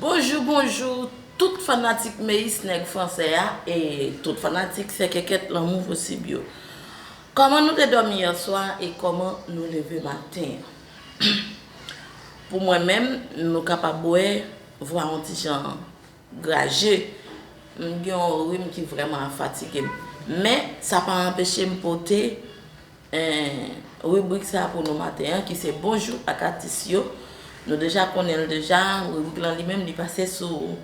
Bonjou bonjou tout fanatik meyis nèg fransè a e tout fanatik sèkèkèt lanmou posib yo Kòman nou te dòmi yèswa e kòman nou leve maten an Pou mwen menm nou kapab wè vwa yon ti jan graje m gen yon rim ki vrèman ap fatige m men sa pa anpeche m pote 1. Ribrik sa pou nou maten an ki se Bonjou ak Atis yo. Nou deja konnen l deja, ribrik lan li menm li pase sou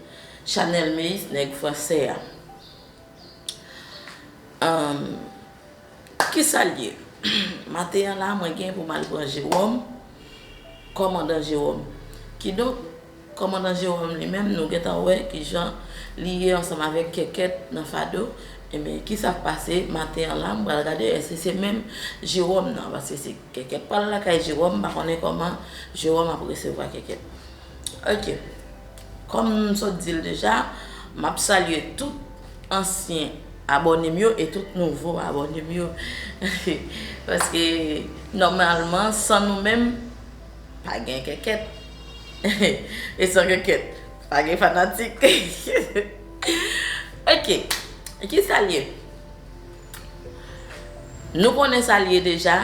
chanèl Meyis Nèg Franse a. Kisa l ye? Maten an la mwen gen pou m al pran Jewòm, kòmandan Jewòm. Kidonk. Kòmandan Jérôme li menm nou gentan wè ki jan li ye ansanm avèk Kèkèt nan fado, enben ki sa k pase maten an la m pral gade èske se menm Jérôme nan paske se Kèkèt pral lakay Jérôme m pa konnen kòman Jérôme ap resevwa Kèkèt ok kòm m sot di l deja m ap salye tout ansyen abòne m yo e tout nouvo abòne m yo paske nòmalman san nou menm Pa gen kèkèt E san kèkèt Pa gen fanatik Ok Ki sa l ye? Nou konnen sa l ye deja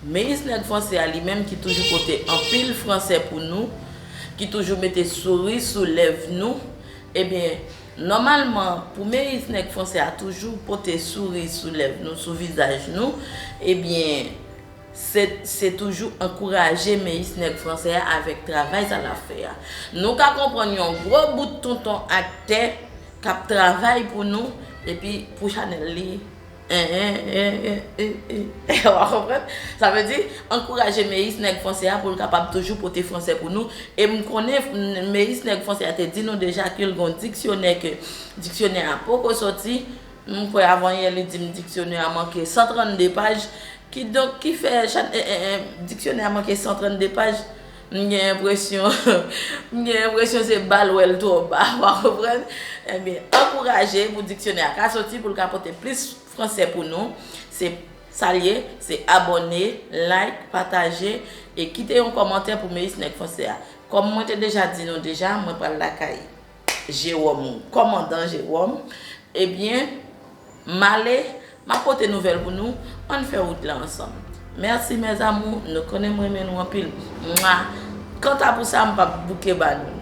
Meyis nèg franse a li menm ki toujou pote anpil franse pou nou Ki toujou mete souri sou lèv nou Ebyen Nòmalman pou meyis nèg franse a toujou pote souri sou lèv nou sou vizaj nou Ebyen Sèt, se toujou ankouraje meyis nèg fransè a avèk travay sa l ap fè a. Nou ka konprann yon gwo bout tonton aktè k ap travay pou nou epi pou chanèl li en en en en en wa konprann. Sa vle di, ankouraje meyis nèg fransè a pou l kapab toujou pote fransè pou nou e m konnen meyis nèg fransè a te di nou deja ke l gen yon diksyonè ke diksyonè a poko sòti, M kwè avanyè li di m diksyonè a manke 132 paj, kidonk ki fè chan en en en diksyonè a manke 132 paj, m gen enpresyon m gen enpresyon se ba l wè l twò ba, w a konprann? Ebyen, ankouraje pou diksyonè a ka soti pou l ka pote plis fransè pou nou. Se sa l ye, se abòne, like, pataje e kite yon kòmantè pou Meyis Nèg Fransè a. Kòm mwen te deja di nou deja, mwen pral lakay. Jewòm ou kòmandan Jewòm Ebyen m ale M ap pote nouvèl pou nou Ann fè wout la ansanm Mèsi mes amours Nou konnen m renmen nou anpil Mwa Kanta pou sa m p ap bouke ba nou l.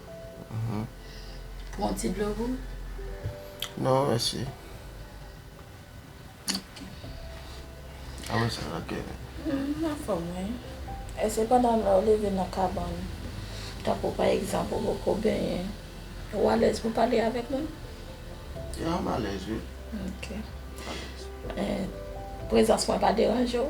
Pou yon ti dlo gou? Non mèsi. Ok. A mwen sa la kè. M anfòm wi. E se pandan lè ou leve nan kabann, tankou pa egzanp ou poko benyen, ou alèz pou pale avèk moun? Ya m alèz wi. Ok. M alèz. Prezans mwen pa deranje w?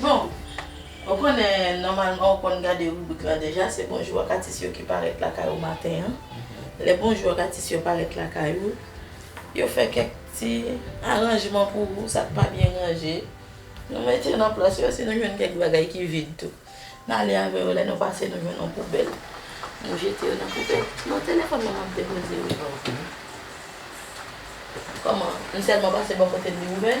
Bon, ou konnen nòmalman ou konn gade ribrik la deja, se bonjou ak atis yo ki parèt lakay ou maten an. Lè bonjou ak atis yo parèt lakay ou, yo fè kèk ti aranjman pou ou, sa k pa byen ranje, nou mete nan plas yo, si nou jwenn kèk bagay ki vid tou, n ale avè yo, lè nou pase nou jwenn yon poubèl, nou jete yo nan poubèl. Bon, telefòn mwen m ap depoze wi. Kòman, m sèlman pase bò kote l li ouvè?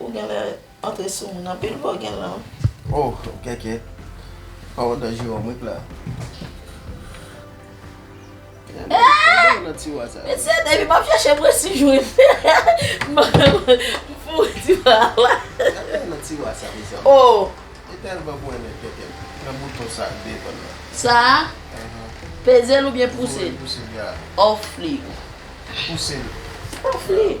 Ou genlè antre sou moun anpil bò gen lan wi. Oh kèkè paw andan jiwòm wi pla. Met se depi map chache mwen si jwenn m foure tiwa la. Oh. Sa a? Pezel oubyen pousel? Off li. Off li.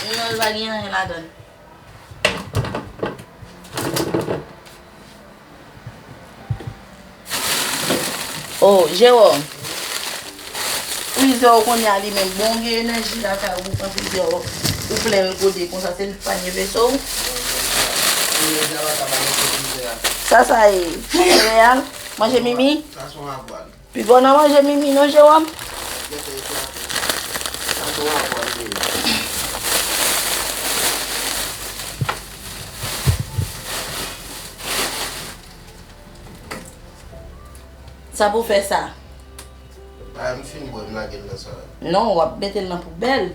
Jounal pa gen anyen ladan l. Oh Jérôme. Frizè w konn alimen bon gen enèji lakay ou pran frizè w ou plen l gode konsa se li k panye veso w. Sa sa ye? Sereyal? Manje mimi? Sa son avwal. Pi bon nan manje mimi non Jérôme. Sa pou fè sa. Bayem fini bwe m lagel nan salad. Non wap metel nan poubèl.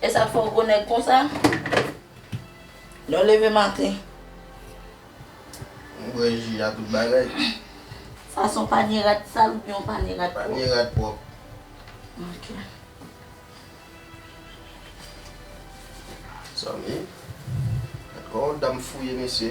Esak fè w gwo nèg konsa? Lèw leve maten. M bwè ji a tout bagay. Sa son panye rad sal oubyen yon panye rad pwòp? Panye rad pwòp. Ok. Zanmi, gad kòman dam fouye mesye.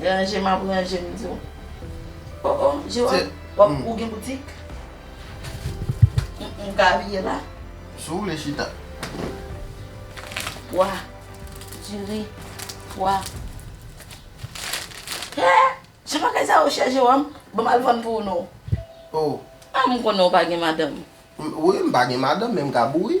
Ranje map ranje m di w. Oh oh Gerard wap ou gen boutik? M ka abiye la? Si w vle chita. Pwa, diri, pwa. He! Jan bagay sa yo chè Jewòm, ban m al vann pou ou non. Oh. Ah m konnen w pa gen madanm. Wi m pa gen madanm men m ka bouri.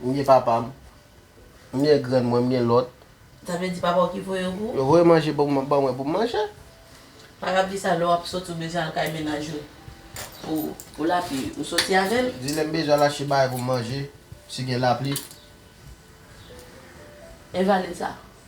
M gen papa m. M gen grann mwen, m gen lòt. Sa vle di papa w ki voye w pou. Yo voye manje pou ban mwen pou m manje. Pa rap di sa lè w ap soti w bezwen al kay mennaj ou pou lapi ou soti avè l. Di lè m bezwen al achte bagay pou m manje si gen lapli. Envalid sa.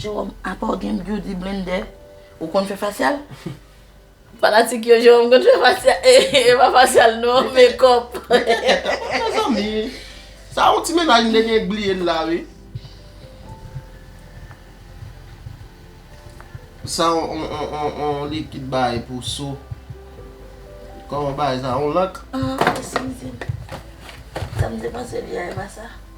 Jewòm, apaw gen beauty blender, ou konn fè fasyal? Fanatik yo, Jewòm konn fè fasyal, e pa fasyal non, mekòp. Mete tèt a pa mezanmi. Sa yon ti mennaj m te gen bliye l la wi. Sa yon likid bay pou so. Kòman bagay sa? Yon lank? An, mwen santi m. Sa m te panse li a e pa sa.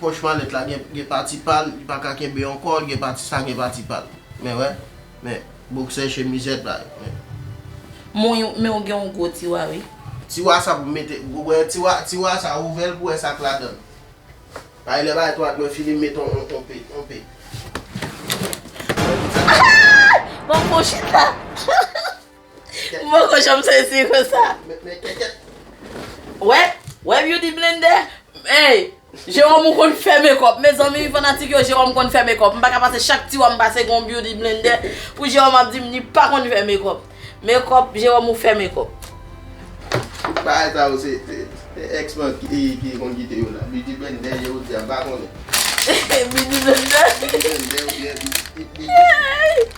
Pòch malèt la gen pati pa l, li pa ka kenbe ankò, li gen pati sa, gen pati pa l. Men wè, men boksè chemizèt la yo, men. Mwen yo, men w gen yon gwo tiwa wi. Tiwa sa pou m mete, ou wè tiwa, tiwa sa ouvè l pou wè sa k ladan l. Bay lè bay twal mwen fini m met yon pe, yon pe. Aah! Bon bon chita. M poko janm sezi konsa. Wè, wè beauty blender. Ey, Jérôme ou konn fè mekòp. Mezanmi fanatik yo Jérôme konn fè mekòp. M pa ka pase chak ti wa m pase gon beauty blender pou Jérôme ap di m li pa konn fè mekòp. Mekòp, Jérôme ou fè mekòp. Bagay sa yo se ex mwen ki konn kite yo la. Beauty blender Jérôme di a m pa konnen. Beauty blender. Beauty blender ou byen beauty.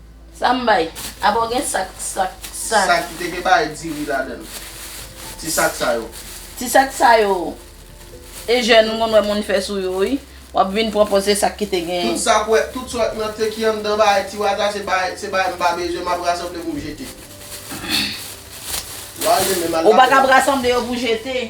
Sa m bay? Apa w gen sak, sak, sak. Sak ki te gen bagay diri ladan l. Ti sak sa yo. Ti sak sa yo. E jèn m konn wè moun fè sou yo wi. W ap vin pran pòz se sak ki te gen. Tout sa k wè, tout sa w nan te ki anndan bagay tiwa sa se bagay, se bagay m pa bezwen, m ap rasanble pou m jete. Wa al demen m al lakòl. Ou pa kab rasanble yo pou jete.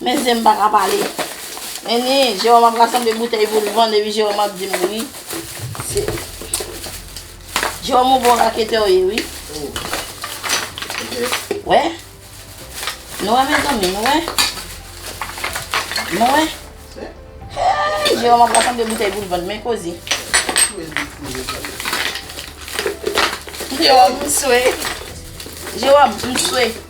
Men zen m pa ka pale. Men ni Jewòm ap rasanble boutèy pou l vann epi Jewòm ap di m wi. Se Jewòm on bon raketè w ye wi. Ou wè? Nou wè mezanmi, nou wè? Nou wè? Eyy Jewòm ap rasanble boutèy pou l vann men koze. Jewòm m swe. Jewòm m swe.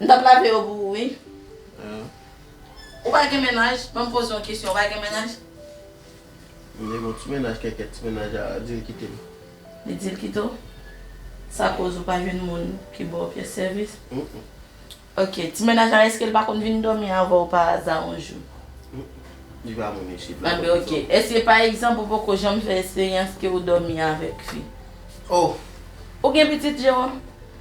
M tap lave yo pou ou wi. Ou pa gen mennaj? Banm poze yon kesyon ou pa gen mennaj? M gen yon ti mennaj kèkèt ti mennaj a dil kite m. Li dil kite w? Sa koz ou pa jwenn moun ki baw pyès sèvis? Ok ti mennaj la eskel pa konn vin dòmi avèw pa aza yon jou? Li pa moun isit la. Anben ok èske pa egzanp ou poko janm fè esperyans ke ou dòmi avèk fi? Oh! Ou gen pitit Jérôme?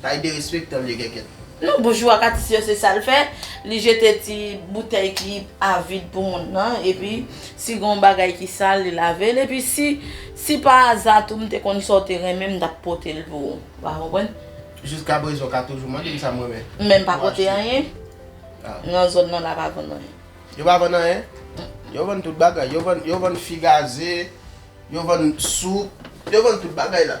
Kay derespektan m ye kèkèt. Nou boujou ak atis yo se sal fè li jete ti boutèy ki a vid pou moun nan epi si gon bagay ki sal li lavel epi si si pa aza tou m te konn sa w te renmen m tap pote l pou ou wa konprann. Jiska prezan w ka toujou mande m sa m renmen. Men m pa pote anyen nan zòn nan la pa vann anyen. Yo pa vann anyen? Yo vann tout bagay yo vann yo vann fi gaze yo vann soup yo vann tout bagay la.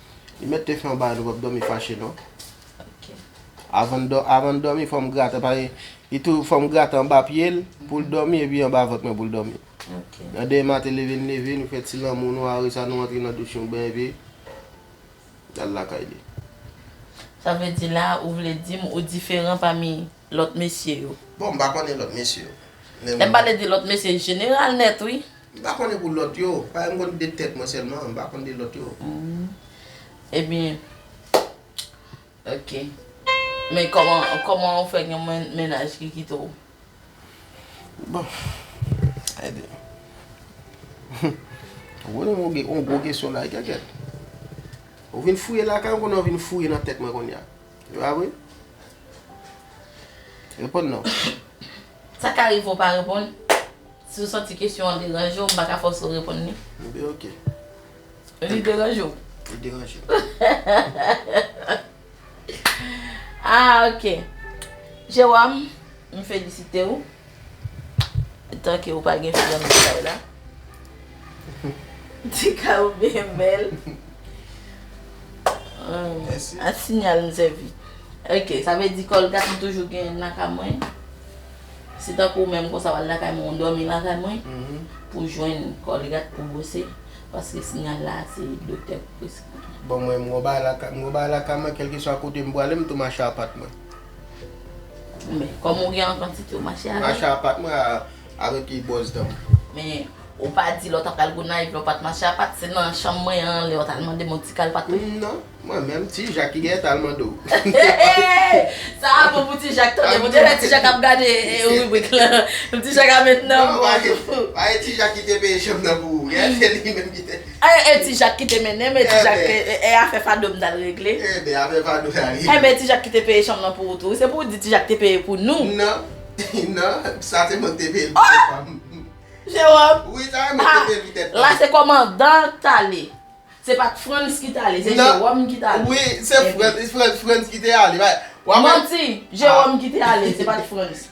Li met te fè yon bagay nou pap domi fache non. Avan nou domi fò m grate paske li tou fò m grate anba pye l pou l domi epi anba vant mwen pou l domi. Nan demen maten leve n leve nou fè ti lanmou nou are sa nou antre nan douch nou benyen epi n al lakay li. Sa vle di la ou vle di m ou diferan pami. lòt mesye yo. Bon, m pa konnen lòt mesye yo. Lè m pale de lòt mesye, e jeneral nèt wi. M pa konnen pou lòt yo. Paske m konn de tèt mwen sèlman, m pa konn de lòt yo. Ebyen, ok. Men kòman, kòman ou fè gen mennaj ki kite w? Bon, ebyen. Ou poze m yon gwo kesyon la, e kèkèt. Ou vin fouye lakay m, ou konnen ou vin fouye nan tèt mwen kounya. Yo a vre? Reponn non. Sa ka rive w pa reponn. Si w santi kesyon an deranje w, m pa ka fòse w reponn li. Enben ok. Li deranje w? Li deranje m. Ah ok. Jewòm, m felisite w. Tanke ou pa gen fi an nan kay la. Ti kay ou byen bèl. A sinyal m sèvi. Ok sa vle di Colgate m toujou genyen l lakay mwen. Se tankou ou menm konsa w al lakay mwen ou dòmi lakay mwen pou w jwenn Colgate pou w bwose paske sinyal la se doktè ki preskri. Bon mwen m gon bagay lakay mwen kèlkeswa kote m prale m tou mache a pat mwen. Men, kòm ou gen an kantite ou mache avèl. Mache a pat mwen avèk e bòz danm. Men, ou pa di lè w ta pral Gonayiv lè w pat mache a pat, se nan chanm mwen an lè w tal mande m yon ti kal pat tou? Non, mwen menm, ti Jak ki genyen tal mande w. Hey! Sa a bon pou ti Jak tande, bon te fè ti Jak ap gade ribrik lan. Ti Jak ap met nan. Non, pa gen ti Jak ki te peye chanm nan pou ou. Gade li menm ki te. Anh e ti jak kite mennenm e ti jak e afè fado m tal regle. Enben afè fado tal regle. Enben ti jak kite peye chanm nan pou ou tou wi se pou ou di ti jak te peye pou nou. Nan nan sa se mwen ki te peye l pou tèt pam. Jewòm. Wi sa se mwen ki te peye l pou tèt pam. La se kòmandan k tale. Se pat frantz ki tale se jewòm ki tale. Wi se frantz ki te ale. Manti jewòm ki te ale se pat frantz.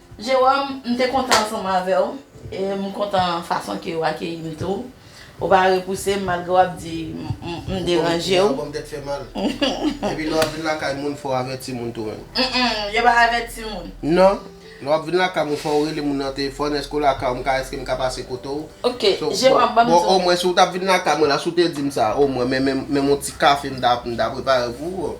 Jérôme, m te kontan ansanm avè w e m kontan fason ke w akeyi m tou. Ou pa repouse m malgre w ap di m deranje w. Epi lè w ap vin lakay moun fò w avèti moun tou menm. Mmm, yo pa avèti moun? Non. Lè w ap vin lakay moun fò w rele moun nan telefòn, èske w lakay w, m ka, èske m ka pase kote w? Ok, Jérôme, ban m di w. Bon, omwen si w t ap vin lakay mwen la, si w te di m sa, omwen menm yon ti kafe m ta prepare pou ou.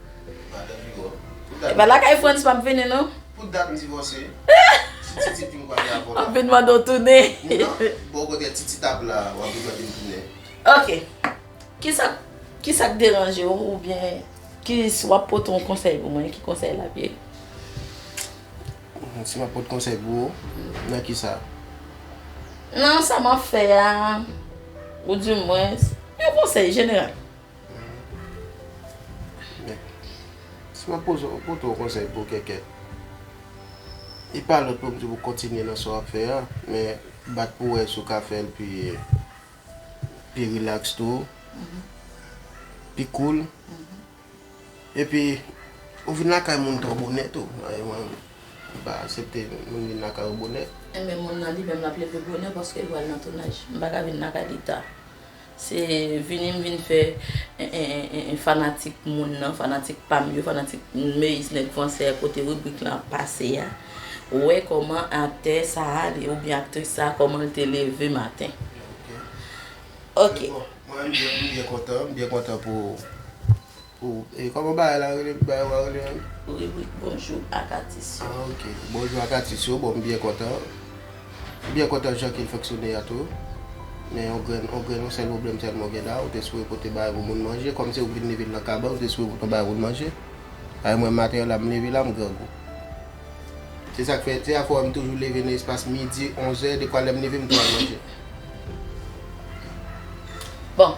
Epa lakay frantz map vini non. Pou dat m divose. Si titi dim pral gen avoka. Map vin mande w tounen. Bon kote titi tap la wap vin mande m tounen. Ok kisa kisa k deranje w ou byen ki si wap pote yon konsèy pou mwen ki konsèy lap ye? Si map pote konsèy pou ou nan kisa? Nan sa map fè a ou di mwens yon konsèy jeneral. Men, si mwen poze w, pote w konsèy pou kèkè, li pa lòt pou m di w pou kontinye nan sa w ap fè a, men bat pou w wè si w ka fè l pi, pi rilaks tou, pi koul. Epi, ou vin lakay moun twò bonè tou. Paske mwen, m pa asepte moun vin lakay ou bonè. Enben, moun nan li menm l ap leve bonè paske l pral nan tounaj. M pa ka vin lakay li ta. Se vini m vin fè fanatik moun nan, fanatik pa m yo, fanatik Meyis nèg fransè kote ribrik lan ap pase a, wè kòman aktè sa a oubyen aktris sa a kòman l te leve maten. Ok. Ok. Se bon. Mwen m byen kontan, m byen kontan pou ou. Oh e koman bagay la rele bagay wa rele an. Ribrik bonjou ak atis yo. Ah ok bonjou ak atis yo bon m byen kontan m byen kontan jan ke l fonksyone a tou men yon grenn yon grenn yon sèl pwoblèm sèlman w gen la ou te sipoze pote bagay pou moun manje kòm se ou ki vin leve l nan kabann ou te sipoze pote yon bagay pou l manje paske mwen maten an la m leve la m grangou se sa k fè se sa k fè w wè m toujou leve nan espas midi onzè dekwa lè m leve m pran manje. Bon.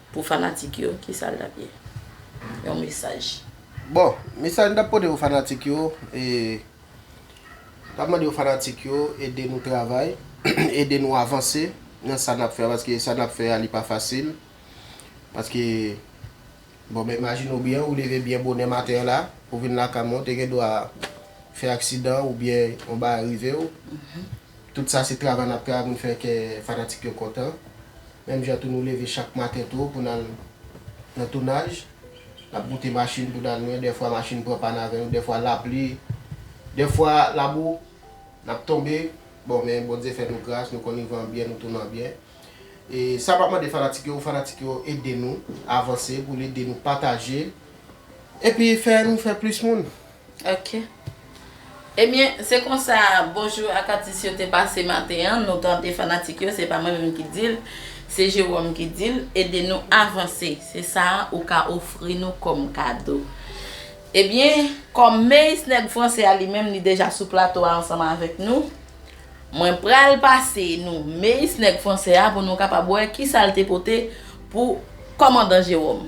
Pou fanatik yo, kisa l t ap ye? Yon mesaj. Bon, mesaj m t ap pote pou fanatik yo, e, m t ap mande yo fanatik yo ede nou travay, ede nou avanse nan sa n ap fè a, paske sa n ap fè a li pa fasil, paske, bon men imajine w byen, ou leve byen bonè maten an la, pou w vin lakay mwen, ou te gen dwa fè aksidan oubyen yon bagay rive w. Tout sa se travay nap travay pou n fè kè fanatik yo kontan. Menm jan tou nou leve chak maten to pou n al nan tounaj. Nap moute machin pou n al lwen, dèfwa machin pran pàn avè nou, dèfwa lapli, dèfwa labou, nap tonbe. Bon men Bondye fè nou gras, nou konn rive an byen, nou tounen an byen. E sa map mande fanatik yo, fanatik yo ede nou avanse pou l ede nou pataje epi fè nou fè plis moun. Ok. Ebyen, se konsa Bonjou ak Atis yo te pase maten an, nou tande fanatik yo, se pa mwen menm ki di l, se Jérôme ki di l, ede nou avanse, se sa ou ka ofri nou kòm kado. Ebyen, kòm Meyis nèg franse a li menm li deja sou plato a ansanm avèk nou, mwen pral pase nou Meyis nèg franse a pou nou kapab wè kisa l te pote pou kòmandan Jérôme.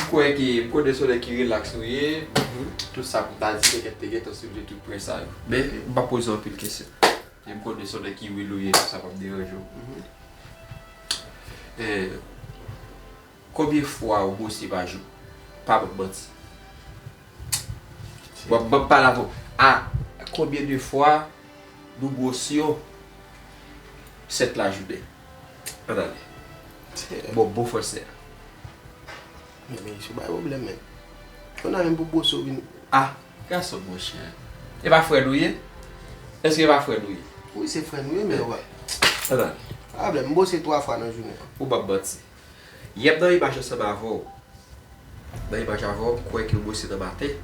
M kwè ke pou de solèy ki relaks nou ye, tout sa pou m ta di pètèt te gentan soulve tout pwen sa yo. Men, m pa poze w anpil kesyon. Jan m konnen solèy ki real ou ye, tout sa pap deranje w. Konbyen fwa ou bwose pa jou? Pa ban m manti. Bon, ban m pale avè w. A konbyen de fwa nou bwose yon sèt lajounen? Atande. Bon bon fransè a. Men men ish ou bay pwoblèm men. Ou nan menm pou bwose ou vin. A! Gason bon chè. E pa frè nou ye? Eske e pa frè nou ye? Wi se frè nou ye men ou pa. Atande. Pa pwoblèm. M bwose 3 fwa nan jounen an. Ou banm manti. Yep nan imaj ansanm avèw nan imaj avèw m kwè ke bwose nan maten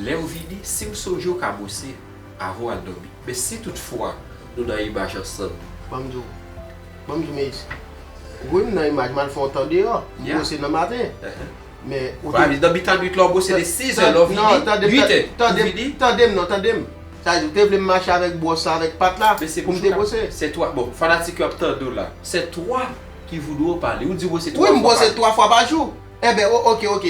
lèw vini sim sonjew ka bwose avanw al domi men si tout fwa nou nan imaj ansanm. Banm di w banm di w meyis wi m nan imaj mal fè yon tan deyò m bwose nan maten men ou te nan mitan nwit la ou bwose de 6 è lèw vini 8 è ou vini tandem non tandem sa vle di ou te vlem mache avèk bwòs la avèk pat la poum te bwose se 3 bon fanatik yo ap tandew la se 3. Ki voudou ou pale? Ou di bwose 3 fwa pa jou. Wi m bwose 3 fwa pa jou. Enben o ok ok.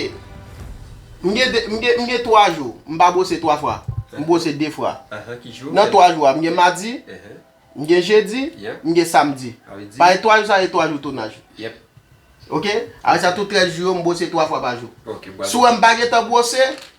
M gen 2 m gen m gen 3 jou m pa bwose 3 fwa. M bwose 2 fwa. Ahan ki jou? Nan 3 jou a m gen madi, m gen jedi, m gen samdi. Pami 3 jou sa se 3 jou tonaj. Yep. Ok? Aprè sa tout rès jou yo m bwose 3 fwa pa jou. Ok, bwase. Si w wè m pa gen tan bwose,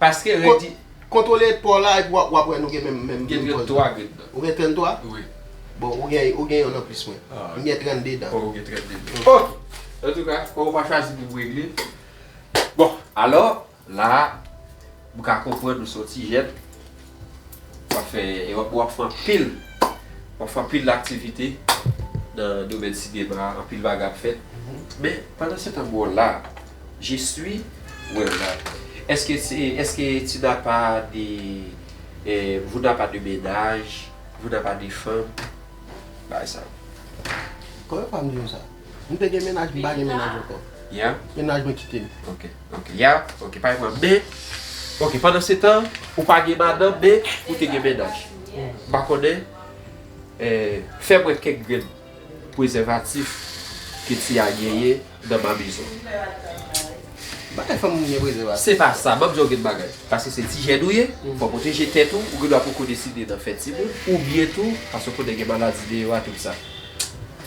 Paske redi. Kontwole paw la epi wap wè nou gen menm menm poz la. Gen 33 grenn dan. Ou gen 33? Wi. Bon ou gen ou gen yonn anplis mwen. M gen 32 dan. Ou gen 32 dan. Ok! Antouka paw pa chwazi pou regle. Bon alò la a m ka konprann ou son ti jèn. wap fè e wap wap fè anpil wap fè anpil aktivite nan domèn sinema anpil bagay ap fèt men pandan se tan bon la je suis wèw la eske se eske tu na pa de e vou na pa de mennaj vou na pa de fanm bagay sa yo. Koman yo fè ap diw sa? M te gen mennaj m pa gen mennaj ankò. Mennaj mwen kite m. Ok ok yeah ok pa gen pwoblèm men ok pandan se tan ou pa gen madanm men ou te gen mennaj m pa konnen fèm wè kèk grenn pwezèvatif ke Tia genyen nan mamizon. Bagay fanm gen pwezèvatif. Se pa sa map di yon grenn bagay paske se ti jèn ou ye fò pwoteje tèt ou ou gen dwa poko deside nan fè timoun oubyen tou paske konnen gen maladi deyò a tout sa.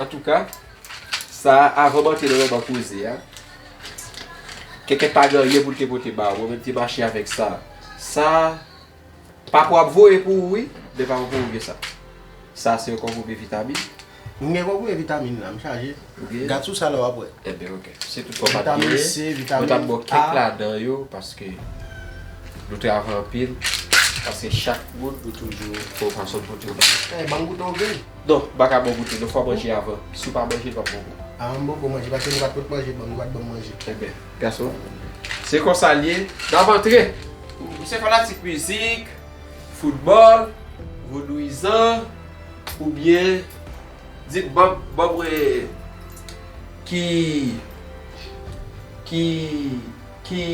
Antouka, sa a avan manke nan manman koze a. Kèkè pa gen anyen pou l te pote ba ou, mwen menm te mache avèk sa a. Sa a, papa w ap voye pou ou wi, men pa pou ou gen sa. Sa a se yon konpwomi vitamin. M gen konpwomi vitamin la, m chaje. Gad sou sa la w ap wè. Enben ok. Se tout sa w pa t genyen. Vitamin C, vitamin A. Mwen t ap ba w kèk ladan yo paske nou travay anpil. Paske chak moun nou toujou fè yon fason pou l pote yon bagay. Ban m goute yon grenn. Donk, bak a bon goute, donk fò manje avan. Si w pa manje, l pap bon gou. A m poko manje, paske nou pa t pot manje ban m, nou pa t ban m manje. Enben, gason, se konsa l ye, n ap antre! Ou se fanatik mizik, foutbòl, vodouyizan, oubyen, di m, ban m wè ki, ki, ki,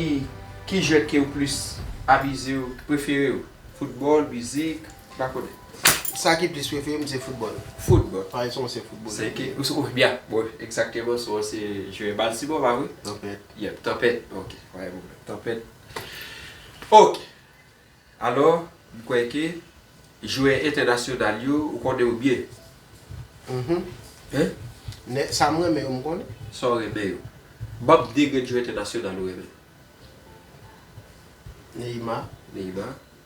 ki jwèt ke ou plis amize w, prefere w? Foutbòl, mizik? Pa konnen. Sa ki plis prefere m se foutbòl. Foutbòl? Pari son ansyen foutbolè. Se ekip ou se ou byen. Bon, egzakteman son an se jwè Baltimore pa vre? Tanpèt. Yep, Tanpèt. Ok, pa gen pwoblèm. Tanpèt. Ok. Alò, m kwè ke jwè entènasyonal yo, ou konnen yo byen. Mh. Hein? Nè, sa m renmen yo m konnen. Sa w renmen yo. Ban m 2 grenn jwè entènasyonal ou renmen. Neymar. Neymar.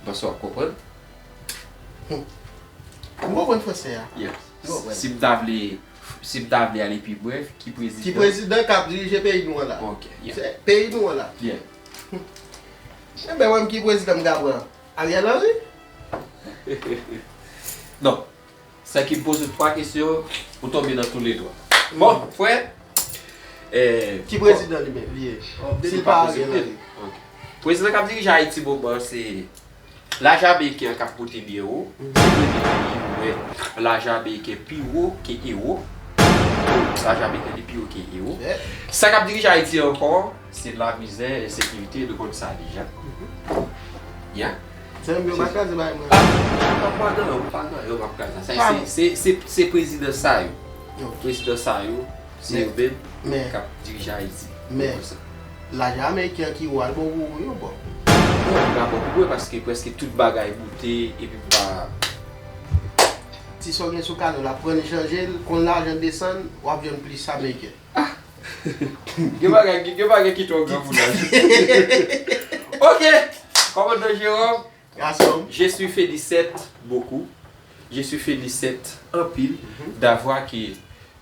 M panse wap konprann. Ou konprann fransè a? Yes. Si m ta vle, si m ta vle ale pi brèf, ki prezidan. Ki prezidan k ap dirije peyi nou an la. Ok, yeah. Se peyi nou an la. Yeah. Mwen mèt wè m ki prezidan m ta pran. Ariel Henry? Non. Sa ki poze w 3 kesyon ou tonbe nan tou le 3. Bon frè eh. Ki prezidan li menm li ye? Si li pa prezidan li. Prezidan kap dirije Ayiti moman an se lajan ameriken an kap pote byen wo. Tout le de peyi yo wè lajan ameriken pi wo ke ewo. Lajan ameriken li pi wo ke ewo. Sa kap dirije Ayiti ankò. Se lamizè ensekirite nou konn sa deja yeah. Sè m yo pa kraze bagay mwen an. Nan pa nan yo pa nan yo pap kraze sa se se prezidan sa yo prezidan sa yo se yo menm kap dirije ayiti men lajan ameriken an ki ou al bon pou ou yo bon non li pa bon pou mwen paske preske tout bagay moute epi m pa ti sa w gen sou kado la pran li chanje l kon lajan desann wap jwenn plis ameriken. Gen bagay ki tro gran pou nan jou. Ok! Komandan Jérôme. Gasonm. Je suis Félicète beaucoup. Je suis Félicète anpil d'avoir ke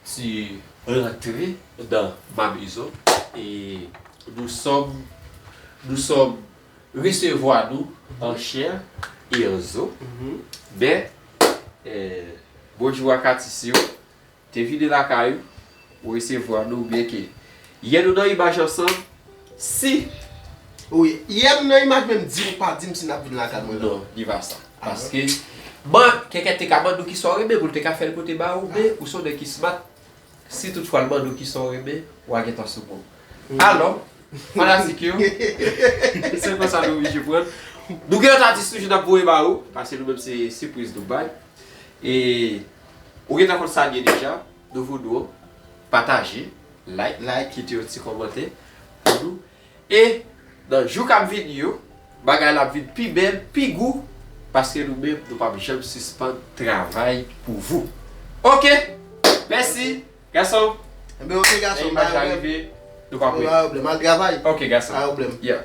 tu rentre dans ma maison et nous sommes nous sommes recevoir nous en chair et en os. Men, bonjou ak atis yo. Te vide lakay ou, ou resevwa nou byen ke yè nou nan imaj ansanm, si. Ou yè nou nan imaj menm di ou pa di m si nap vin lakay mwen nan. Non, li pa sa. Paske man kèkè te ka mande ou kisa ou renmen pou l te ka fè l pote ba ou men ou se yon nèg ki smat si tout fwa l mande ou kisa ou renmen wa gentan sou bon. Alò, fanatik yo, se konsa nou oblije pran. Nou gen lòt atis toujou nap voye ba ou, paske nou menm se sipriz nou bay. E Ou gentan konn sa liye deja nou voudou w pataje like like kite yon ti kòmantè pou nou e nan jou kap vini yo bagay la ap vin pi bèl pi gou paske nou menm nou pap janm sispann travay pou vou ok mèsi gason lè imaj la rive nou pa pwèl ok gason yeah.